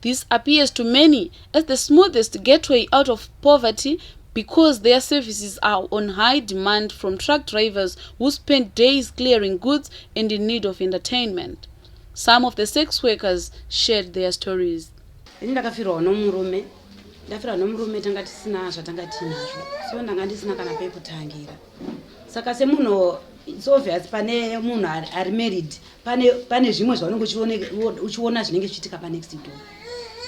This appears to many as the smoothest gateway out of poverty because their services are on high demand from truck drivers who spend days clearing goods and in need of entertainment. Some of the sex workers shared their stories. Ini ndakafirwa nomurume ndafira nomurume tanga tisina zvatanga tiinazvo so ndanga ndisina kana pekutangira saka semunhu it's obvious pane munhu ari married pane pane zvimwe zvaunenge uchiona zvinenge zvichiitika panext door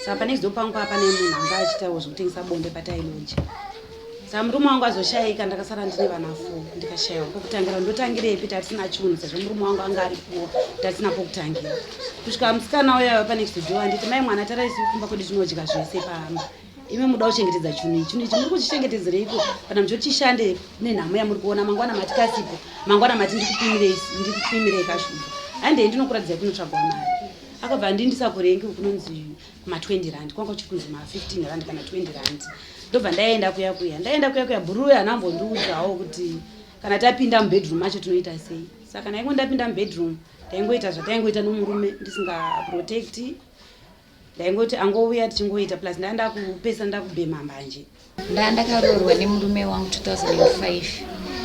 saka panext door pangu paa pane munhu anga achitawo zvekutengesa bonde patailoja saka murume wangu azoshayika ndakasara ndine vana fo ndikashayiwa pokutangira ndotangirepi tatisina chunhu sezvo murume wangu anga ari kuwa tatisina pokutangira kusvika musikana uyava panext door anditi mai mwana taraisi kumba kwedu tinodya zvese pamba imi muda kuchengetedza chunhu ichi chunhu ichi muri kuchichengetedzereiko kana muchoti chishande nenhamo yamuri kuona mangwana mati kasipo mangwana mati ndikupimirei kashuga handei ndinokuratidza kunotsvagwa mari akabva andi ndisakurenge kunonzi ma20 rand kwanga kuchiri kunzi ma15 rand kana 20 rand ndobva ndaenda kuya kuya ndaenda kuya kuya bhuruwe hana ambondiudzawo kuti kana tapinda mubedroom macho tinoita sei saka ndaingo ndapinda mubedroom ndaingoita zvataingoita nomurume ndisingaprotecti ndaingoti angouya tichingoita plus ndaa ndakupesa ndakubhema mbanje ndaa ndakaroorwa nemurume wangu 2005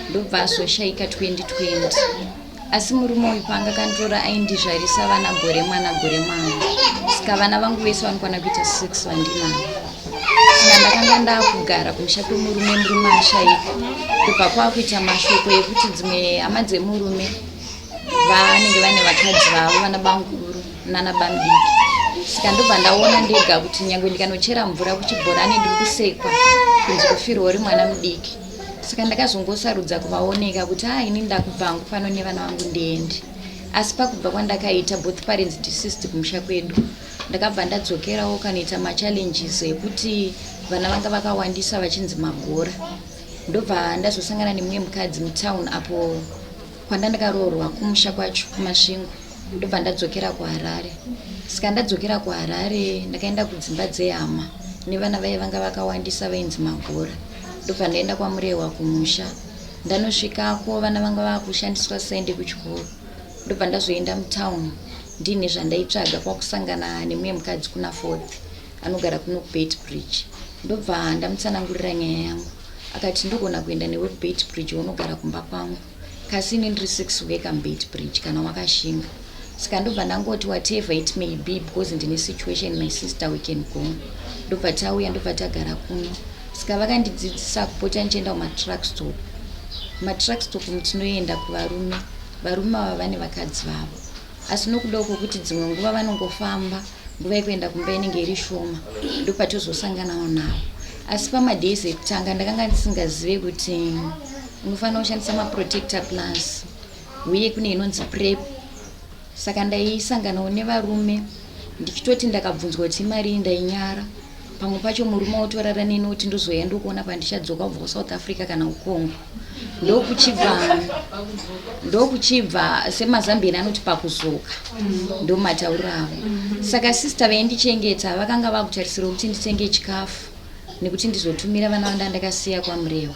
ndobva azoshaika 2020 asi murume uyu paanga kanditora aindizvarisa vana gore mwana gore mwana saka vana vangu vese vanokwana kuita six vandinavo saka ndakanga ndaakugara kumusha kwemurume murume ashaika ndobva kwaakuita mashoko ekuti dzimwe hama dzemurume vanenge vane vakadzi vavo vana banguru nana bamdiki saka ndobva ndaona ndega kuti nyange ndikanochera mvura kuchibhorani ndiri kusekwa kunzi kufirwa uri mwana mudiki saka ndakazongosarudza kuvaoneka kuti haa ini ndakubvangu pano nevana vangu ndiendi asi pakubva kwandakaita both parents deceased kumusha kwedu ndakabva ndadzokerawo kanoita machallenges ekuti vana vanga vakawandisa vachinzi magora ndobva ndazosangana nemumwe mukadzi mutown apo Kwandandakaroorwa kumusha kwacho kuMasvingo ndobva ndadzokera kuHarare. Saka ndadzokera kuHarare ndakaenda kudzimba dzehama nevana vaye vanga vakawandisa vainzi Magora. Ndobva ndaenda kwaMurehwa kumusha. Ndanosvikako vana vanga vakushandiswa sende kuchikoro. Ndobva ndazoenda mutown ndine zvandaitsvaga kwakusangana nemumwe mukadzi kuna Fourth anogara kuno kuBait Bridge. Ndobva ndamutsanangurira nyaya yangu. Akati ndogona kuenda newe kuBait Bridge wonogara kumba kwangu. Kasi ini ndiri six uye ka mbeit bridge kana wakashinga saka ndobva ndangoti whatever it may be because ndine situation my sister we can go ndobva tauya ndobva tagara kuno saka vakandidzidzisa kupota ndichienda kumatruck stop matruck stop mutinoenda kuvarume varume ava vane vakadzi vavo asi nokudawo kwokuti dzimwe nguva vanongofamba nguva yekuenda kumba inenge iri shoma ndopatozosanganawo navo asi pamadays ekutanga ndakanga ndisingazive kuti unofanira kushandisa maprotector plus uye kune inonzi prep saka ndaisanganawo nevarume ndichitoti ndakabvunzwa kuti imari iyi ndainyara pamwe pacho murume wotorara neni woti ndozouya ndokuona pandichadzoka kubva kusouth africa kana kucongo ndokuchibva ndokuchibva semazambieni anoti pakuzoka ndomatauro avo saka sista vaindichengeta vakanga vakutarisira kuti nditenge chikafu nekuti ndizotumira vana vanda ndakasiya kwamurewa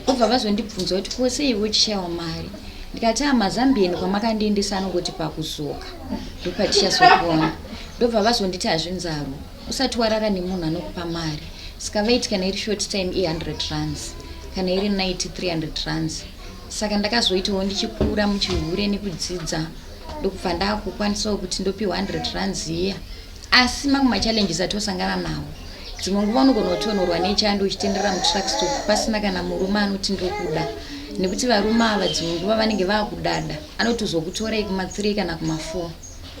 obva vazondibvunza kuti kose ivo chishaiwa mari ndikati amazambieni ah, kwamakandiendesa anongoti pakuzoka ndopatichazokona ndobva vazonditi hazvinzarwa usati warara nemunhu anokupa mari saka vaiti kana iri short time i100 runs kana iri night 300 runs saka ndakazoitawo ndichikura muchihure nekudzidza ndokubva ndakukwanisawo kuti ndopiwa 100 runs iya asi mamwe machallenges atiosangana nawo dzimwe nguva unogona kutonorwa nechando uchitenderera mutruckstop pasina kana murume anoti ndokuda nekuti varume ava dzimwe nguva vanenge vakudada anotozokutorai kuma3 kana kuma4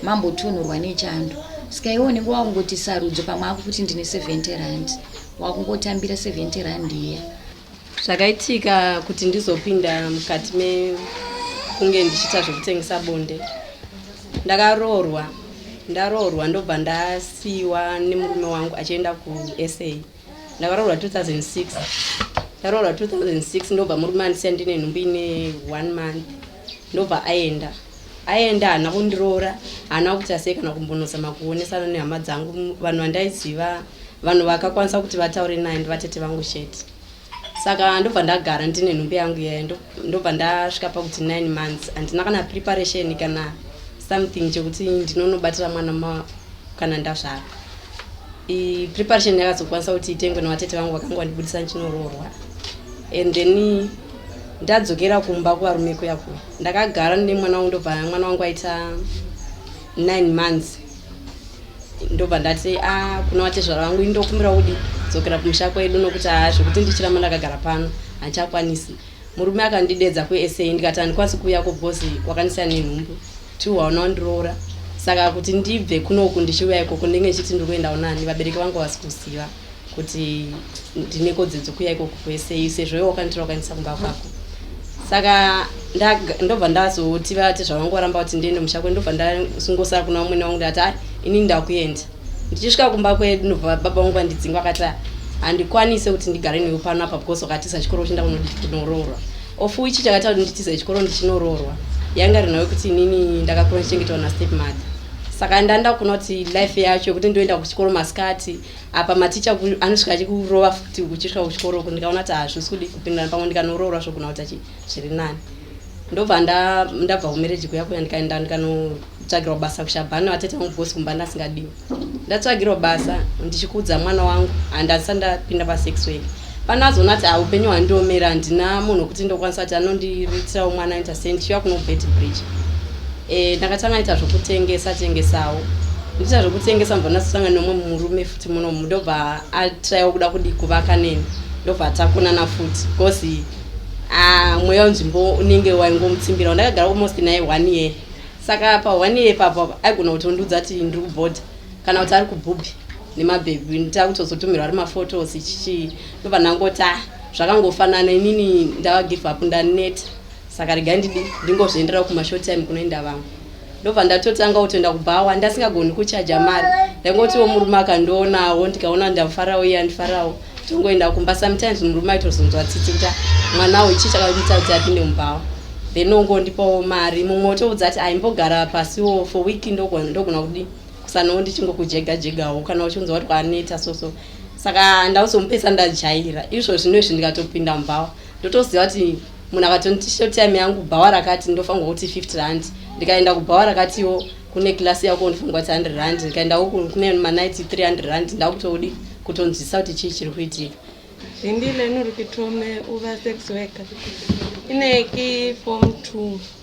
mambotunhurwa nechando ska iwe unenge wakungoti sarudzo pamwe akukuti ndine 70 rand wakungotambira 70 rand iya zvakaitika kuti ndizopinda mukati mekunge ndichiita zvekutengesa bonde ndakaroorwa ndaroorwa ndobva ndasiiwa nemurume wangu achienda kusa ndakaroorwa 2006 ndaroorwa 2006 ndobva murume andisiya ndine nhumbi ine one month ndobva aenda aenda haana kundiroora haana kuti asei kana kumbonozama kuonesana nehama dzangu vanhu vandaiziva vanhu vakakwanisa kuti vataure naye ndivatete vangu chete saka ndobva ndagara ndine nhumbi yangu yaye ndoku ndobva ndasvika pakuti nine months handina kana preparation kana something chekuti ndinonobatira mwana ma kana ndazvara preparation yakazokwanisa kuti itengwe navatete vangu vakanga vandibudisa ndichinoroorwa and then ndadzokera kumba kuvarume kuya kuya ndakagara nemwana wangu ndobva mwana wangu aita nine months ndobva ndati a ah, kuna vatezvara vangu indokumbira kudi dzokera kumusha kwedu nokuti haa ah, zvekuti ndichiramba ndakagara pano handichakwanisi murume akandidedza kusa ndikati handikwanisi kuuya ko because wakandisiya nenhumbu two waona wandiroora saka kuti ndibve kunoku ndichiuya ikoko ndinge ndichiti ndiri kuendawo nani vabereki vangu vasi kuziva kuti ndine kodzero dzekuuya ikoko kwese ise zvoyo wakanitira wakanisa kumba kwako saka ndobva ndazoti vati zvavangoramba kuti ndiende musha kwedu ndobva ndasungosara kuna vamwene vangu ndati ai inini ndakuenda ndichisvika kumba kwedu ndobva baba vangu vandidzinga vakati handikwanise kuti ndigare newe pano apa because wakatiza chikoro uchinda kunoroorwa of which chakaita kuti nditize chikoro ndichinoroorwa yanga rinawe kuti inini ndakakura ndichengetawo nastep mother saka ndanda kuona kuti life yacho yekuti ndoenda kuchikoro masikati apa maticha anosvika achikurova futi uchisvika kuchikoro uku ndikaona kuti hazvisi kudi kupindirana pamwe ndikanoroora zvogona kuti achi zviri nani ndobva ndabva kumereji kuya kuya ndikaenda ndikanotsvagirwa basa kushabhani vatete vangu bosi kumba ndasingadiwi ndatsvagirwa basa ndichikudza mwana wangu handisa ndapinda pasex wake Pana azona ati ah upenyu hwandiomera handina munhu wekuti ndokwanisa kuti anondiritirawo mwana aita sei ndichiva kuno bet bridge eh ndakatanga ita zvokutengesa tengesawo ndiita zvokutengesa mubva ndasosanga nomwe murume futi muno ndobva atraiwa kuda kudi kuvaka neni ndobva takonana futi because ah mweya wenzvimbo unenge waingomutsimbirawo ndakagara almost naye one year saka pa one year papo aigona kutondiudza kuti ndiri kubhodha kana kuti ari kubhubhi nemabhebhi nditakutozotumirwa ari maphotos chichii ndobva ndangoti ah, zvakangofanana inini ndava give up ndaneta saka rega ndidi ndingozvienderawo kumashort time kunoenda vamwe ndobva ndatotanga kutoenda kubhawa ndasingagoni kuchaja mari ndaingotiwo murume akandionawo ndikaona ndafarawo iye andifarawo tongoenda kumba sometimes murume aitozonzwa tsitsi kuti ah, mwana uyu chii chakamuita kuti apinde mubhawa then ongondipawo mari mumwe otoudza kuti aimbogara pasiwo for week ndogona kudii kusanawo ndichingokujega jegawo kana uchinzwa kuti kwaneta so so saka ndauzomupesa ndajaira izvo zvino izvi ndikatopinda mubhawa ndotoziva kuti munhu akatoniti shotime yangu bhawa rakati ndofanirwa kuti 50 rand ndikaenda kubhawa rakatiwo kune klasi yako ndifunga kuti 100 rand ndikaenda uku kune manaiti 300 rand ndakutodi kutonzwisisa kuti chii chiri kuitika zvindile nurikitome uva sex worker ineki form two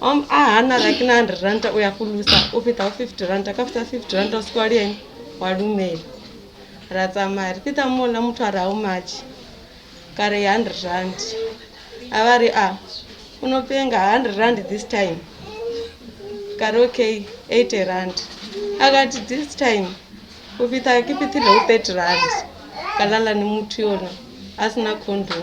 Om ahana like 900 rand uya kulusa upita 50 rand akafuta 50 rand usikwaliyeni walumeli ratsa mari pita mona mutwara how much kare 100 rand avari a ah, unopenga 100 rand this time kare okay 80 rand akati this time upita kipitile u 30 rand kalala nemutu yona asina condom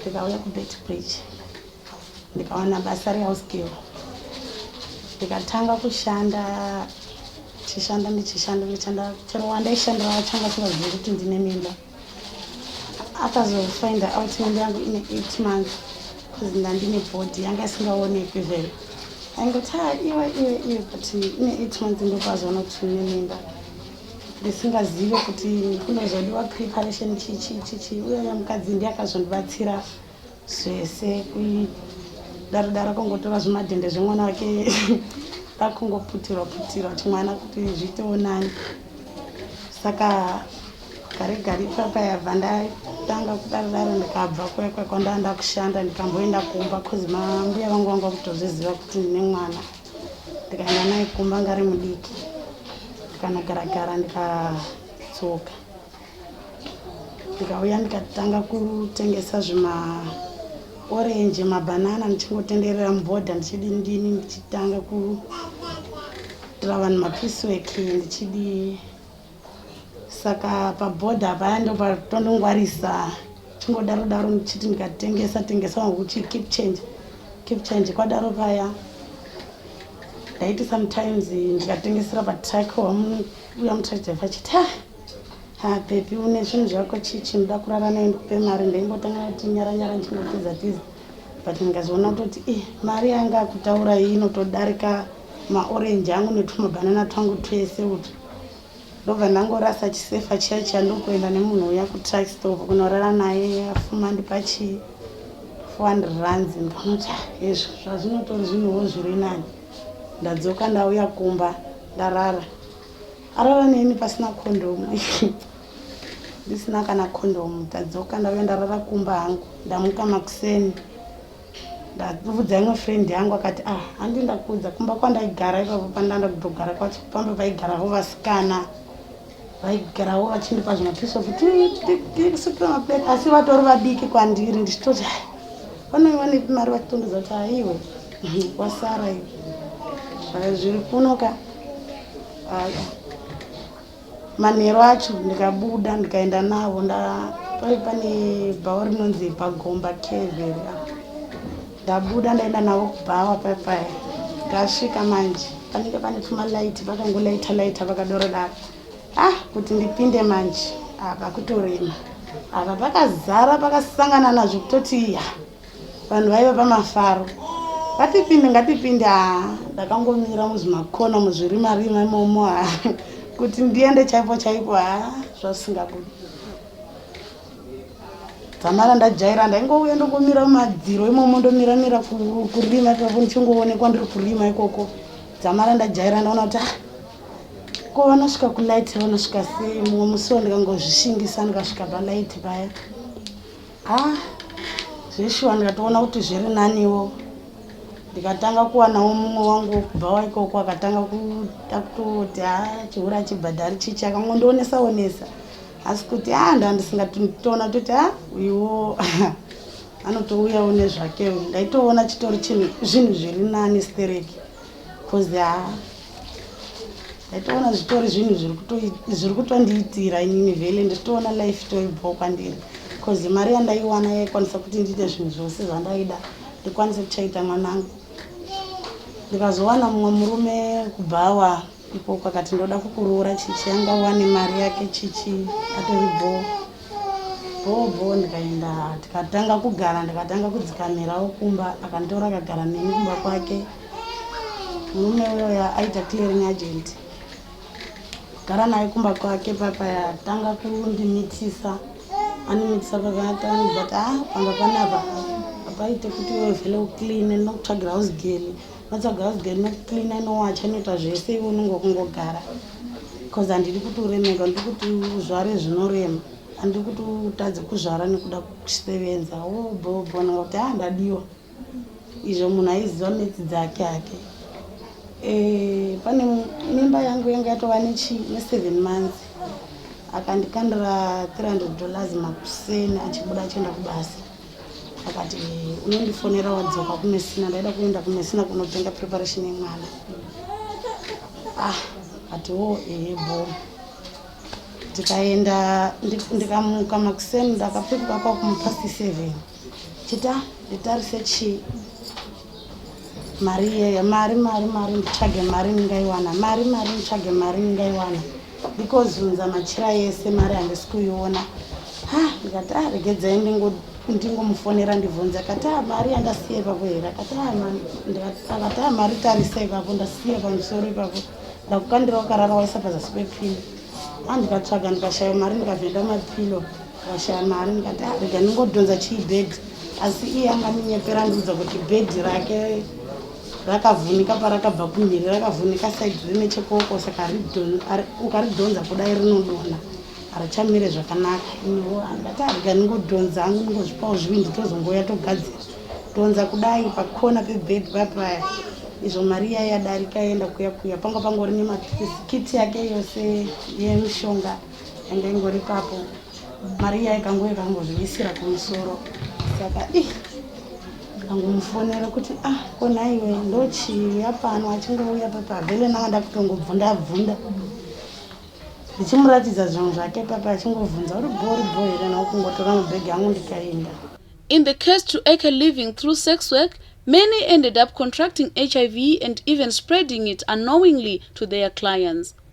ndikauya kubetbridge ndikawana basa rehouse girl ndikatanga kushanda tichishanda ndichishanda ndichishanda chero wandaishandira wachanga singazivi kuti ndine mimba akazofind out mimba yangu ine eight months bcause ndandine body yanga isingaonekwi vele aingoti ha ah, iwe iwe iwe but ine eight months ndopazoona kuti ine mimba ndisingazive kuti kunozodiwa preparation chichichichi uyaya mukadzi ndiye akazondibatsira zvese kuidarodaro kongotora zvimadhende zvemwana wake kwakungoputirwa putirwa chimwana kuti zviitewo nani saka gare gare ipapa yabva ndatanga kudarodaro ndikabva kuya kwakwandanda kushanda ndikamboenda kumba bcause mambuya vangu vanga kutozviziva kuti ndine mwana ndikaenda naye kumba ngari mudiki ndikanogara gara ndikadzoka ndikauya ndikatanga kutengesa zvima orange mabhanana ndichingotenderera mubhodha ndichidi ndini ndichitanga kuitira vanhu mapiece work ndichidi Saka paborder paya ndopatonongwarisa chingodaro daro ndichiti ndikatengesa tengesa wangu kuti keep change keep change kwadaro paya ndaiti sometimes ndikatengesera patrack wamuya mutrachdrive achiti ha ha pepi une zvinhu zvako chii chinoda kurara naye ndikupe mari ndaimbotanga kuti nyara nyara ndichingotiza tiza but ndikazoona kutoti i eh, mari yanga akutaura iyi inotodarika maorenji angu netumabhanana twangu twese utwu ndobva ndangorasa chisefa chiya chiya ndokuenda nemunhu uya kutruck stop kunorara naye afuma ndipa chi 400 runs ndikanoti ah, hezvo zvazvinotori zvinhuwo zviri nani ndadzoka ndauya kumba ndarara arara neni pasina kondomu ndisina kana kondomu tadzoka ndauya ndarara kumba hangu ndamuka makuseni ndakuvudza imwe friend yangu akati ah handi ndakuudza kumba kwandaigara ipapo pandanda kutogara kwacho pambe vaigarawo vasikana vaigarawo vachindipa zvimapiso kuti tikusukira maplate asi vatori vadiki kwandiri ndichitoti ah, vanenge vanepi mari vachitondodza kuti aiwe wasara iwe zviri kunoka Manheru acho ndikabuda ndikaenda navo ndapave pane bhawa rinonzi pagomba keveri apo ndabuda ndaenda navo kubhawa paya paya ndasvika manje panenge pane pumalaiti vakangolaita laita vakadoro daro ah kuti ndipinde manje apa kutorema apa pakazara pakasangana nazvo kutoti ya Vanhu vaiva pamafaro ngatipinde ngatipinde haa ndakangomira muzvimakona muzvirima rima imomo ha kuti ndiende chaipo chaipo ha zvasingabudi dzamara ndajaira ndaingouya ndongomira mumadziro imomo ndomira mira kurima ipapo ndichingoonekwa ndiri kurima ikoko dzamara ndajaira ndaona kuti ah, ko vanosvika kulight vanosvika sei mumwe musiwo ndikangozvishingisa ndikasvika palight paya ah zveshuwa ndikatoona kuti zviri naniwo ndikatanga kuwanawo mumwe wangu wokubva waikoko akatanga kuda kutoti ha chihura chibhadhari chichi akangondionesa onesa asi kuti a ah, ndandisingatitoona toti a ah, uyuwo anotouyawo nezvake ndaitoona chitori chinhu zvinhu zviri nani stereki coz haa ndaitoona zvitori zvinhu zviri kutondiitira inini vele ndiritoona life itori bho kwandiri coz mari yandaiwana yaikwanisa kuti ndiite zvinhu zvose zvandaida ndikwanise kuchaita mwanangu ndikazowana mumwe murume kubva awa Ikoko akati ndoda kukuroora chichi anga wane mari yake chichi atori bhoo bhoo bhoo ndikaenda tikatanga kugara ndikatanga kudzikamirawo kumba akanditora akagara neni kumba kwake murume uyoya aita clearing agent gara naye kumba kwake papa yatanga kundimitisa andimitisa pakanatani but a ah, pamba panapa apaite kuti wevele ucleane ndinokutsvagira house gale Vatsvaga house girl inocleana inowacha inoita zvese iwe unenge kungogara bcause handidi kuti uremeka ndiri kuti uzvare zvinorema handiri kuti utadze kuzvara nekuda kusevenza wobhobhona oh, kuti ha ah, ndadiwa izvo munhu aiziva metsi dzake hake eh, pane mimba yangu yanga yatova neseven months akandikandira 300 dollars makuseni achibuda achienda kubasa akati unondifonera wadzoka kumesina ndaida kuenda kumesina kunotenga preparation yemwana ah ati wo ehe bho ndikaenda ndikamuka makuseni ndakapfekuka kwakumupa c7 chita nditarise chii mari iyeye mari mari mari nditsvage mari ndingaiwana mari mari nditsvage mari ndingaiwana ndikozunza machira yese mari handisi kuiona ha ndikati a ah, regedzai ndingomufonera ndibvunze akati a ah, mari yandasiya ipapo here akati ah, akati a mari tarisa ipapo ndasiya pamusoro ipapo ndakukandira wakarara waisa pazasi pepini a ndikatsvaga ndikashaya mari ndikavhenda mapilo Ndashaya mari ndikati ah, rega ndingodhonza chii bed asi iye anga andinyepera andiudza kuti bed rake rakavhunika parakabva kumhiri rakavhunika side rine chekoko saka ukaridhonza kudai rinodona harichamire zvakanaka iniwo angati arega ah, ndingodhonza angu ndingozvipawo zvivindi tozongoya togadzira dhonza kudai pakona pebed papaya izvo mari iya yadarika yaenda kuya kuya panga pangori nemapisikiti yake yose yemishonga ende ingori papo mari iya ikango ikangozviisira kumusoro saka i kangomufonera kuti ah konhaiwe ndochiuya pano achingouya papavele nanga ndakutongobvunda bvunda ndichimuratidza zvinhu zvake papa achingobvunza uri bho uri bho here naukungotora mubhegi yangu ndikaenda in the case to ake living through sex work many ended up contracting hiv and even spreading it unknowingly to their clients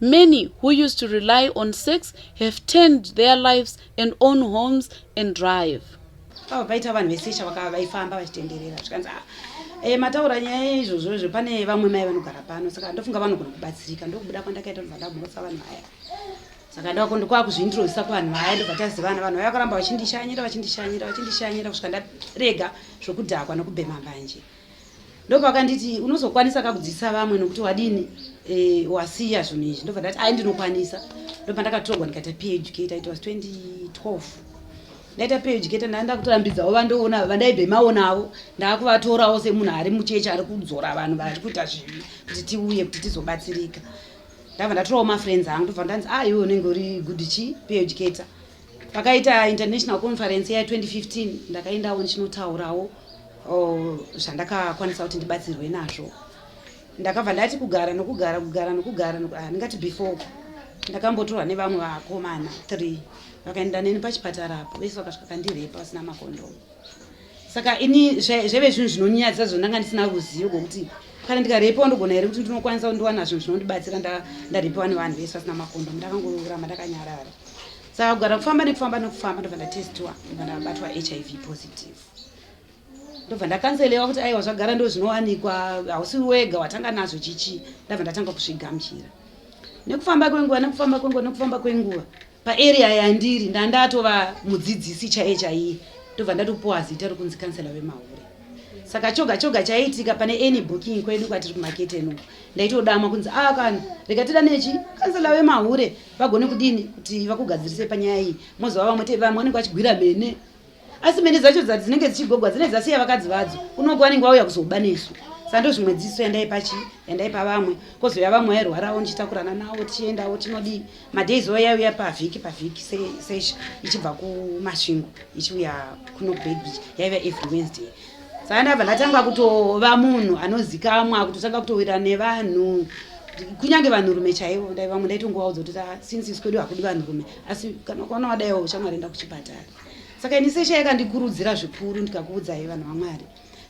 Many who used to rely on sex have turned their lives and own homes and drive. Ava paita vanhu vesesha vakava vaifamba vachitenderera zvikanzi ah, eh, mataura nyaya izvozvo izvo pane vamwe mai vanogara pano saka ndofunga vanogona kubatsirika ndokubuda kwandakaita ndobva ndamhotsa vanhu vaya saka ndako ndokwava kuzviintrodusa kuvanhu vaya ndobva tazivana vanhu vaya vakaramba vachindishanyira vachindishanyira vachindishanyira kusvika ndarega zvokudhakwa nokubhema mbanje ndopakanditi unozokwanisa ka kudzidzisa vamwe nokuti wadini eh, wasiya zvinhu izvi ndobva ndati ai ndinokwanisa ndopandakatorwa ndikaita pay educator it was 2012 ndaita pay educator ndaa ndakutorambidzawo vandoona vandaibve maonawo ndaakuvatorawo semunhu ari muchechi ari kudzora vanhu vari kuita zvivi kuti tiuye kuti tizobatsirika ndabva ndatorawo mafriends angu ndobva ndanzi a ah, iwe unenge uri good chi pay educator pakaita international conference ya 2015 ndakaendawo ndichinotaurawo oh, zvandakakwanisa kuti ndibatsirwe nazvo ndakabva ndati kugara nokugara kugara nokugara ah, ndingati before ndakambotorwa nevamwe vakomana three vakaenda neni pachipatara apo vese vakasvika kandirepa vasina makondomu saka ini zvaive zvinhu zvinonyadza zvo ndanga ndisina ruzivo rwokuti kana ndikarepiwa ndogona here kuti ndinokwanisa kundiwana zvinhu zvinondibatsira ndarepiwa nevanhu vese vasina makondo ndakangoramba ndakanyarara saka kugara kufamba nekufamba nekufamba ndobva ndatestiwa ndobva ndabatwa hiv positive ndobva ndakanzelewa kuti aiwa zvagara ndo zvinowanikwa hausi wega watanga nazvo chichi ndabva ndatanga kusvigamuchira nekufamba kwenguva nekufamba kwenguva nekufamba kwenguva paarea yandiri ndandatova mudzidzisi chaiye chaiye ndobva ndatopuwa zita rokunzi kansela vemahure saka choga choga chaiitika pane any booking kwedu kwatiri kumakete no ndaitodamwa kunzi a ah, kana rikatida nechi kansela vemahure vagone kudini kuti vakugadzirise panyaya iyi mozova vamwe te vamwe vanenge vachigwira mene asi mhene dzacho dzati dzinenge dzichigogwa dzinenge dzasiya vakadzi vadzo kunoko vanenge vauya kuzoba nesu saka ndozvimwe dziso yandaipa chi yandaipa vamwe kozouya vamwe vairwarawo ndichitakurana nawo tichiendawo tinodii madays oya yaiuya pavhiki pavhiki sesha ichibva kumasvingo ichiuya kuno baby yaiva every wednesday saka ndabva ndatanga kutova munhu anozikamwa kutotanga kutowira nevanhu kunyange vanhurume chaivo ndai vamwe ndaitongovaudza kuti ah, since isikwedu hakudi vanhurume asi kana ukaona wadaiwo shamwari enda kuchipatara saka ini seshe yakandikurudzira zvikuru ndikakuudzai vanhu vamwari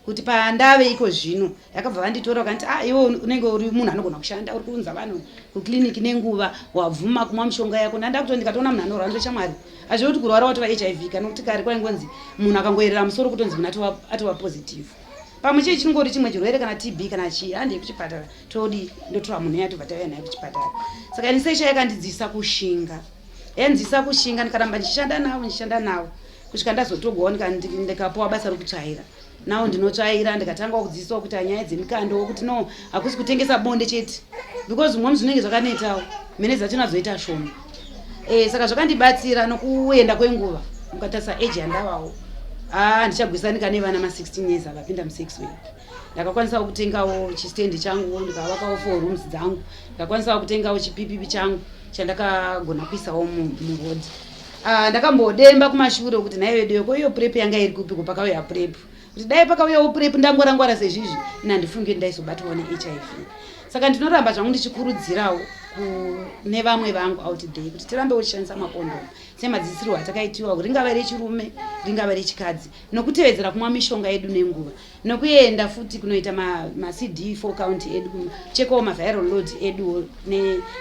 kuti pandave iko zvino yakabva vanditora vakanti ah iwe unenge uri munhu anogona kushanda uri kuunza vanhu kuclinic nenguva wabvuma kumwa mushonga yako ndanda kuto ndikatoona munhu anorwara ndoita shamwari hazvi kuti kurwara watova hiv kana kuti kare kwaingonzi munhu akangoyerera musoro kutonzi munhu atova positive pamwe chii chinongori chimwe chirwere kana tb kana chii handei kuchipatara todi ndotora munhu yatobva tauya naye kuchipatara saka ini sesha yakandidzisa kushinga Enzisa kushinga ndikaramba ndichishanda navo ndichishanda navo kusvika ndazotogwa ndikapuwa basa rokutsvaira nawo ndinotsvaira ndikatanga kudzidziswa kuita nyaya dzemikando wokuti no hakusi kutengesa bonde chete because mumwe zvinenge zvakanetawo mene dzatinazoita shoma e, saka zvakandibatsira nokuenda kwenguva mukatarisa age yandavawo ah, ndichagwisanika nevana ma16 years avapinda musex week ndakakwanisawo kutengawo chistendi changu ndikavakawo four rooms dzangu ndakakwanisawo kutengawo chipipipi changu chandakagona kuisawo muroad ah, ndakambodemba kumashure kuti nhai veduyo ko iyo prep yanga iri kupi ko pakauya prep kuti dai pakauyawo prep ndangwarangwara sezvizvi ina ndifunge ndaizobatwawo nehiv saka ndinoramba zvangu ndichikurudzirawo kune vamwe vangu out day kuti tirambe uchishandisa makondomu semadzidzisirwo atakaitiwa ringava rechirume ringava rechikadzi nokutevedzera kumwa mishonga yedu nenguva nokuenda futi kunoita macd ma for count edu kuchekawo maviral load edu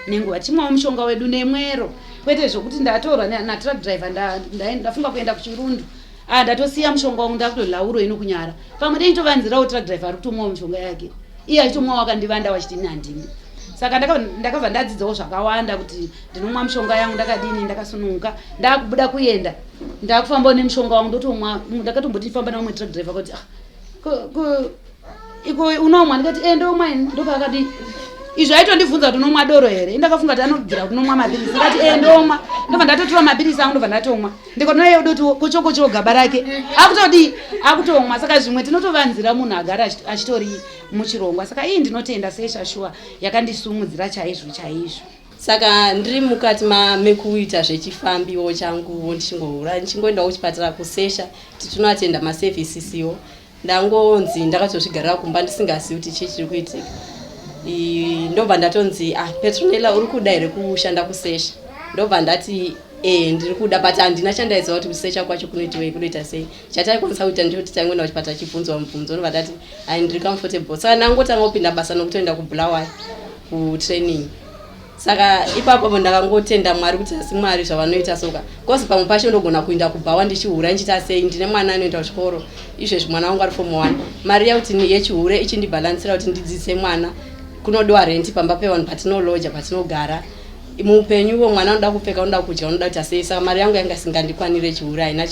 nenguva ne tichimwawo mushonga wedu nemwero kwete zvokuti ndatorwa natruck driver ndafunga nda, nda kuenda kuchirundu ah, ndatosiya mushonga wangu ndakutolauro ino kunyara pamwe dei tovanzirawo truck driver ari kutomwawo mushonga yake iye achitomwawo akandivanda wachiti ini handini saka ndakabva ndadzidzawo zvakawanda kuti ndinomwa mushonga yangu ndakadini ndakasununguka ndakubuda kuenda ndakufambawo nemushonga wangu ndotomwa ndakatomboti ndifamba nevamwe truck driver kuti ah, iko unomwa ndikati e eh, ndomwa ini ndopakati izvo aitondibvunza kuti unomwa doro here indakafunga kuti anobvira kuti unomwa mapirisi ndikati e eh, ndomwa ndobva ndatotora mapirisi angu ndobva ndatomwa ndikonoye udoti kochokochoo gaba rake akutodii akutomwa saka zvimwe tinotovanzira munhu agara achitori muchirongwa saka ii ndinotenda sesha shuwa yakandisumudzira chaizvo chaizvo saka ndiri mukati mekuita zvechifambiwo changuwo ndichingohura ndichingoendawo kuchipatara kusesha tichinoatenda maservices iwo ndangonzi ndakatozvigarira kumba ndisingazivi kuti chii chiri kuitika ndobva ndatonzi ah petronela uri kuda here kushanda kusesha ndobva ndati e ndiri kuda but handina chandaiziva kuti kusesha kwacho kunoitiwei kunoita sei chataikwanisa kuita ndiro kuti taingoenda kuchipatara chibvunzwa mubvunzo ndobva tati ai ndiri comfortable saka ndangotanga kupinda basa nokutoenda kubulawayo kutraining saka ipapo po ndakangotenda mwari kuti asi mwari zvavanoita soka bcause pamwe pacho ndogona kuinda kubhawa ndichihure ndichiita sei ndine mwana anoenda kuchikoro izvezvi mwana wangu ari fomu one mari yakuti yechihure ichindibhalansira kuti ndidzidzise mwana kunodiwa renti pamba pevanhu patino loja patinogara muupenyu uvo mwana unoda kupfeka unoda kudya unoda kuita sei saka mari yangu yanga isingandikwanire chihuri haina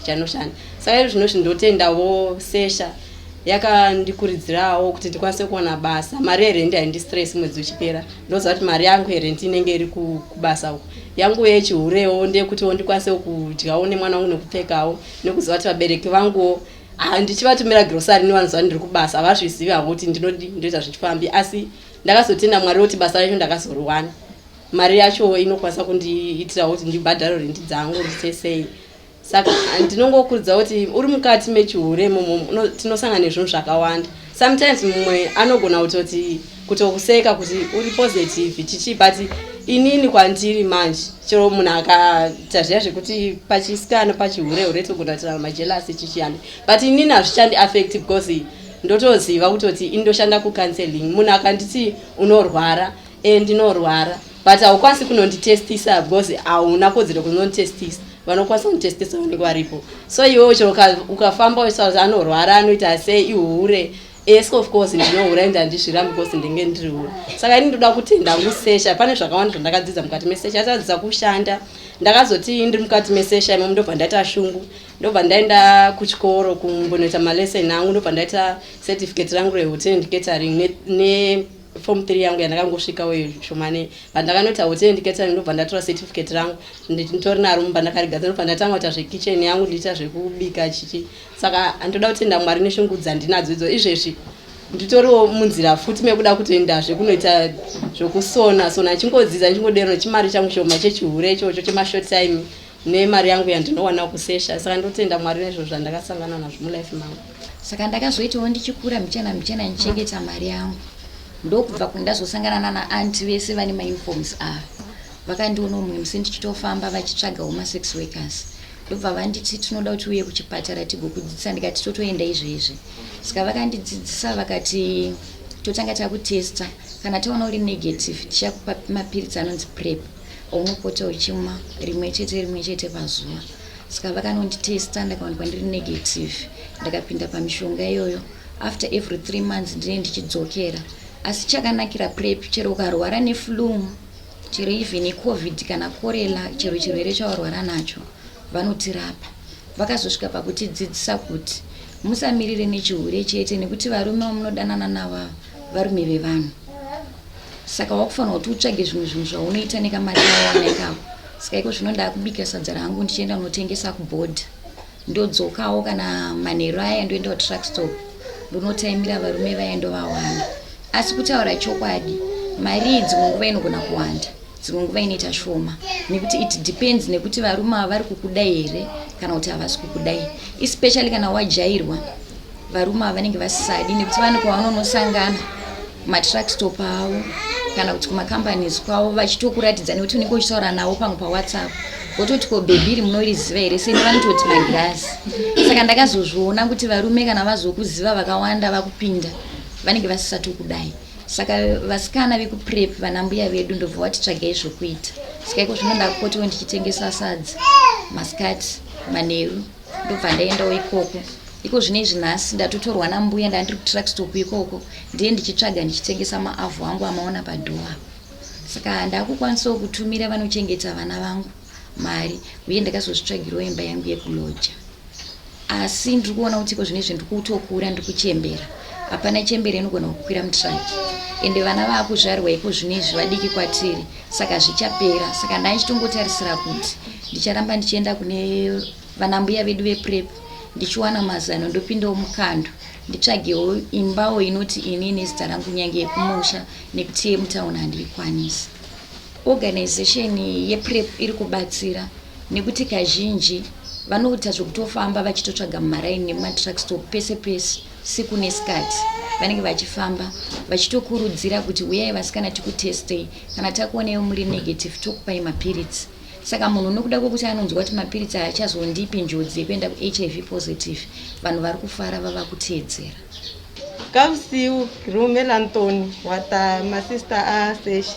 chanoshanda saka iri zvino zvindotendawo sesha yakandikuridzirawo kuti ndikwanise kuona basa mari yerendi haindistress mwedzi uchipera ndoziva kuti mari yangu yerendi inenge iri kubasa uko yangu yechihurewo ndeyekutiwo ndikwanisewo kudyawo nemwana wangu nekupfekawo nekuziva kuti vabereki vanguwo handichivatumira grosari nevanoziva ndiri kubasa havazvizivi havo kuti ndinodi ndoita zvichifambi asi Ndakazotenda Mwari kuti basa racho ndakazoriwana. Mari yacho inokwanisa kundiitirawo kuti ndibhadhare rendi dzangu risesei. Saka ndinongokurudzira kuti uri mukati mechihure imomo tinosangana nezvinhu zvakawanda. Sometimes mumwe anogona kutoti kutokuseka kuti uri positive chichii but inini kwandiri manje chero munhu akaita zviya zvekuti pachisikana pachihure hure togona kutirana majelasi chichiyani but inini hazvichandi affect because ndotoziva kutoti ini ndoshanda kucounseling munhu akanditi unorwara e ndinorwara but haukwanisi kunonditestisa because hauna kodzero kunonditestisa vanokwanisa kunditestisa vanenge varipo so iwewo chero ukafamba uchisakuti anorwara anoita sei ihure es of course ndinohura ende handizvirambi because ndenge ndiri hure saka ini ndoda kutenda kusesha pane zvakawanda zvandakadzidza mukati mesesha atadzidza kushanda ndakazoti ndiri mukati mesesha imomo ndobva ndaita shungu ndobva ndaenda kuchikoro kumbonoita malesson angu ndobva ndaita certificate rangu rehotel and catering nefom ne 3 yangu yandakangosvika uyo shomane but ndakanoita hotel and catering ndobva ndatora certificate rangu nditori naro mumba ndakarigadza ndobva ndatanga kuita zvekitchen yangu ndiita zvekubika chichi saka andoda kutenda mwari neshungu dzandinadzo idzo izvezvi nditoriwo munzira futi mekuda kutoendazve kunoita zvekusona sona ndichingodzidza ndichingodero chimari changu shoma chechihure ichocho chemashort time nemari yangu yandinowana kusesha saka ndotenda mwari nezvo zvandakasangana nazvo mulife mangu saka ndakazoitawo ndichikura mbichana mbichana ndichengeta mari yangu ndokubva kundazosangana nana anti vese vane mauniforms ava vakandiona umwe musi ndichitofamba vachitsvaga homa sex workers ndobva vanditi tinoda kuti uye kuchipatara tigokudzidzisa ndikati totoenda izvezvi saka vakandidzidzisa vakati totanga takutesta kana taona uri negative tichakupa mapiritsi anonzi prep Unopota uchimwa rimwe chete rimwe chete pazuva. Saka vakanonditesta ndakawanikwa ndiri negative. Ndakapinda pamishonga iyoyo. After every three months ndine ndichidzokera. Asi chakanakira prep chero ukarwara neflu chero even icovid kana korela chero chirwere chawarwara nacho vanotirapa. Vakazosvika pakutidzidzisa kuti musamirire nechihure chete nekuti varume vamunodanana navavo varume vevanhu saka wakufanira kuti utsvage zvimwe zvinhu zvaunoita nekamari awana ikako saka iko zvino ndakubika sadza rangu ndichienda kunotengesa kubhodha ndodzokawo kana manheru aya ndoenda kutruck stop ndonotaimira varume vaya ndovawana asi kutaura chokwadi mari idzi munguva inogona kuwanda dzimwe nguva inoita shoma nekuti it depends nekuti varume ava vari kukudai here kana kuti havasi kukudai especially kana wajairwa varume ava vanenge vasisadi nekuti vane kwavanonosangana matrack stop avo kana kuti kumacompanies kwavo vachitokuratidza nekuti unenge uchitaura navo pamwe pawhatsapp vototi ko bhebhiri munoiriziva here seni vanototi magirazi saka ndakazozviona kuti varume kana vazokuziva vakawanda vakupinda vanenge vasisati kudai saka vasikana vekuprep vana mbuya vedu ndobva watitsvagai zvokuita saka iko zvino ndakupotiwo ndichitengesa sadzi masikati manheru ndobva ndaendawo ikoko iko zvino izvi nhasi ndatotorwa nambuya ndandiri kutruckstop ikoko ndiye ndichitsvaga ndichitengesa maavhu angu amaona padhowa saka ndakukwanisawo kutumira vanochengeta vana vangu mari uye ndakazozvitsvagirawo imba yangu yekuloja asi ndiri kuona kuti iko zvinezvi ndiri kutokura ndiri kuchembera hapana chembere inogona kukwira mutraki ende vana vaakuzvarwa iko zvinezvi vadiki kwatiri saka zvichapera saka ndaichitongotarisira kuti ndicharamba ndichienda kune vanambuya vedu veprep ndichiwana mazano ndopindawo mukando nditsvagewo imbawo inoti ini nezita rangu nyange yekumusha nekuti yemutauni handiikwanisi Organization yePrep iri kubatsira nekuti kazhinji vanoita zvekutofamba vachitotsvaga mumaraini nemumatruck stop pese pese siku nesikati vanenge vachifamba vachitokurudzira kuti huyai vasikana tikutestei kana takuonai muri negative tokupai mapiritsi saka munhu nokuda kwekuti anonzwa kuti mapiritsi aya achazondipi njodzi yekuenda kuhiv positive vanhu vari kufara vava kuteedzera kavusiu rume lantoni wata masista aseshi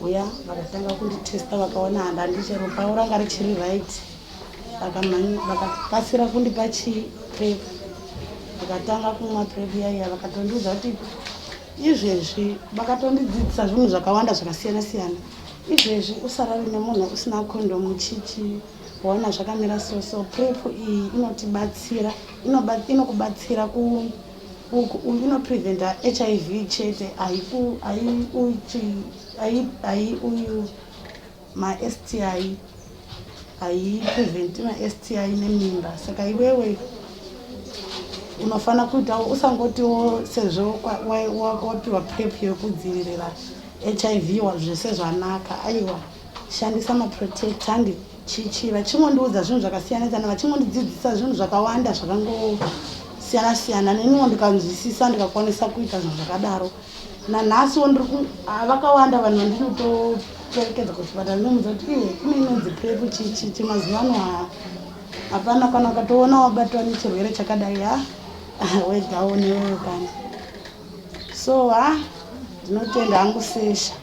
uya vakatanga kunditesta vakaona handa ndichero pavo ranga richiri right vakakasira kundipa chiprep vakatanga kumwa prep yaiya vakatondiudza kuti izvezvi vakatondidzidzisa zvinhu zvakawanda zvakasiyana siyana izvezvi usarari nemunhu usina kondomu chichi waona zvakamira soso prep iyi inotibatsira inokubatsira ku uku uyu unopreventa hiv chete aiuyu masti aipreventi masti nemimba saka iwewe unofanira kuitawo usangotiwo sezvo wapiwa prep yekudzivirira hiv zvese zvanaka aiwa shandisa maprotect handi Chichi vachingondiudza zvinhu zvakasiyana siyana vachingondidzidzisa zvinhu zvakawanda zvakangosiyana siyana neniwo ndikanzwisisa ndikakwanisa kuita zvinhu zvakadaro nanhasiwo ndiri ah, vakawanda vanhu vandinotoperekedza kuchipatara ndinomuudza kuti iye ine inonzi prepu chichi chemazuva ano ha hapana kana ukatoona wabatwa nechirwere chakadai ha wegawo newewe kana so ha ndinotenda hangu sesha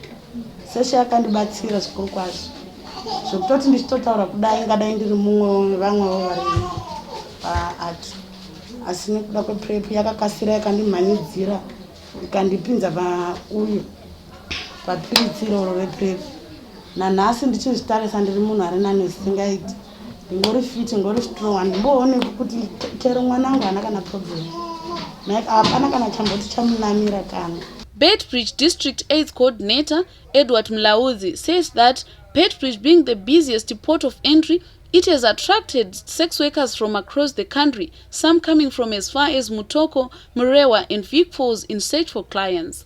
Seshe akandibatsira zvikuru kwazvo zvekutoti ndichitotaura kudai ingadai ndiri mumwe wevamwewo varimi paart asi nekuda kweprep yakakasira yakandimhanidzira ikandipinza pauyu papiritsiro ro reprep nanhasi ndichinzvitarisa ndiri munhu ari nani zvisingaiti ngori fit ngori strong handimboone kuti chero mwana angu haana kana problem like hapana kana chamboti chamunamira kana Beitbridge District AIDS Coordinator Edward Mlaudzi says that Beitbridge being the busiest port of entry, it has attracted sex workers from across the country, some coming from as far as Mutoko, Murewa and Vic Falls in search for clients.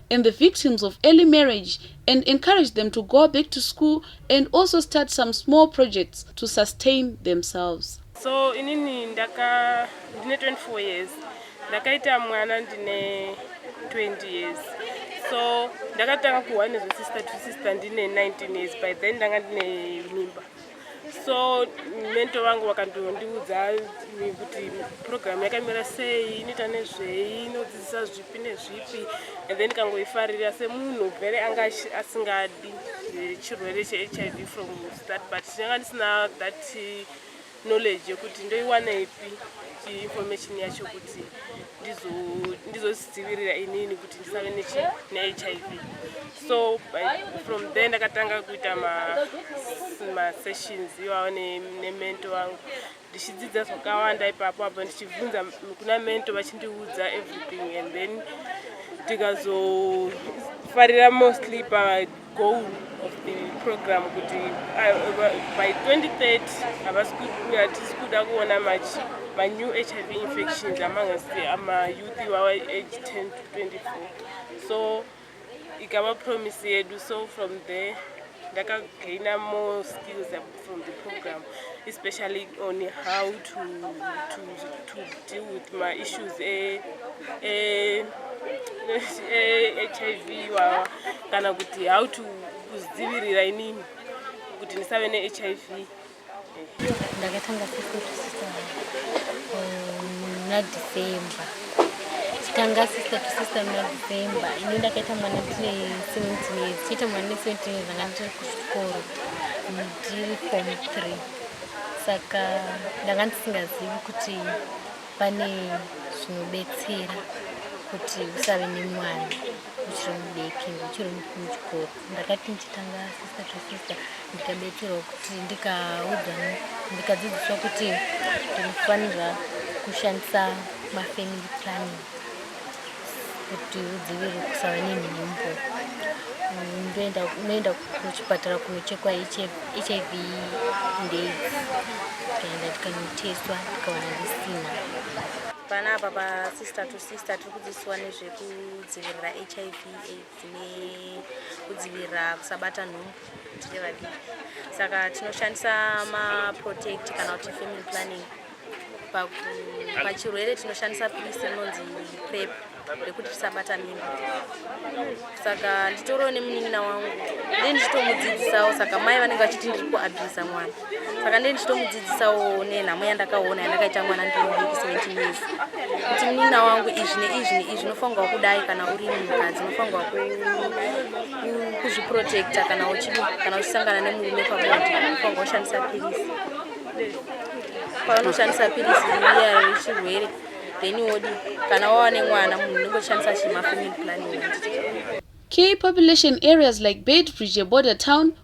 and the victims of early marriage and encourage them to go back to school and also start some small projects to sustain themselves so inini ndaka ndine 24 years ndakaita mwana ndine 20 years so ndakatanga kuhwa nezvesister to sister ndine 19 years by then ndanga ndine mimba so mento vangu vakandondiudza kuti purogiramu yakamira sei inoita nezvei inodzidzisa zvipi nezvipi and then kangoifarira semunhu very anga asingadi eh, chirwere chehiv from start but ndanga ndisina that eh, knowledge yekuti ndoiwaneipi information yacho kuti ndizozvidzivirira inini kuti ndisave nehiv so from there ndakatanga kuita masessions iwawo nemento wangu ndichidzidza zvakawanda ipapo apa ndichibvunza kuna mento vachindiudza everything and then tikazofarira mostly pagoal of the program kuti by 2030 havasi hatisi kuda kuona machi manew hiv infections among us amayouth iwawa age 10 to 24 so ikava promise yedu so from there ndakagaina more skills from the program especially on how to, to, to deal with my issues e, e, e, hiv wawa kana kuti how to kuzidzivirira inini kuti ndisave nehiv ndakatanga nadecember tanga sister to sister muna december ini ndakaita mwana tine seventeen years tiita mwana ne seventeen years anga ndiri kuchikoro ndiri form three saka ndanga ndisingazivi kuti pane zvinobetsera kuti usave nemwana uchiri mudeki uchiri muchikoro ndakati ndichitanga sister to sister ndikabetserwa kuti ndikaudzwa ndikadzidziswa kuti ndinofanira kushandisa mafamily planning kuti udzivirire kusava nenhumbu unoenda kuchipatara kunochekwa hiv ndaids tikaenda tikanotestwa tikawana risina panapa pasister to sister tiri kudzidziswa nezvekudzivirira hiv aids dzine kudzivirira kusabata nhumbu tiri vadiki saka tinoshandisa maprotect kana kuti family planning pachirwere tinoshandisa pilisi rinonzi prep rekuti tisabata mimba saka nditoriwo nemunin'ina wangu ndee ndichitomudzidzisawo saka mai vanenge vachiti ndiri kuabhisa mwana saka ndee ndichitomudzidzisawo nenhamo yandakaona yandakaita mwana ndiri mudiki 17 years kuti munina wangu izvi neizvi neizvi unofanirwa kudai kana uri mukadzi unofanirwa kuzviprotecta kana kana uchisangana nemurume pabonde unofanirwa kushandisa pirisi paunoshandisa pirisi iya rechirwere then wodi kana wava nemwana munhu unenge uchishandisa chimafamily planning Key population areas like Beitbridge, a border town,